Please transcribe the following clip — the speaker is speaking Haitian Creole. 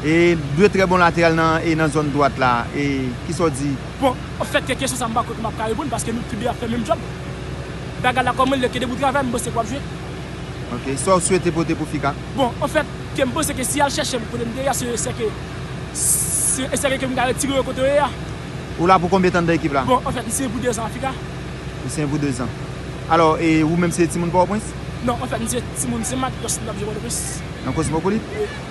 E 2 trè bon lateral nan e nan zòn dwat la e kisa w di? Bon an fèt ke kesyon sa m pa kwè ke m ap ka reponn paske nou tou 2 ap fè menm djòb. Bagay la kòman l ye ke depi w travay m panse ke w ap jwe. Ok, sa w swete pote pou Fica? Bon an fèt ke m panse ke si y al chèche m kote m te ye a se esè ke se esè ke ke m ka retire yo kote yo ye a. Ou la pou konbyen tan nan ekip la? Bon an fèt m siyen pou 2 zan a Fica. Ou siyen pou 2 zan. Alò e ou menm se timoun Pòtoprens? Non an fèt m se timoun Sen Mak, lòske m t ap jwe Pòtoprens. Nan Kosmopolit? Wi.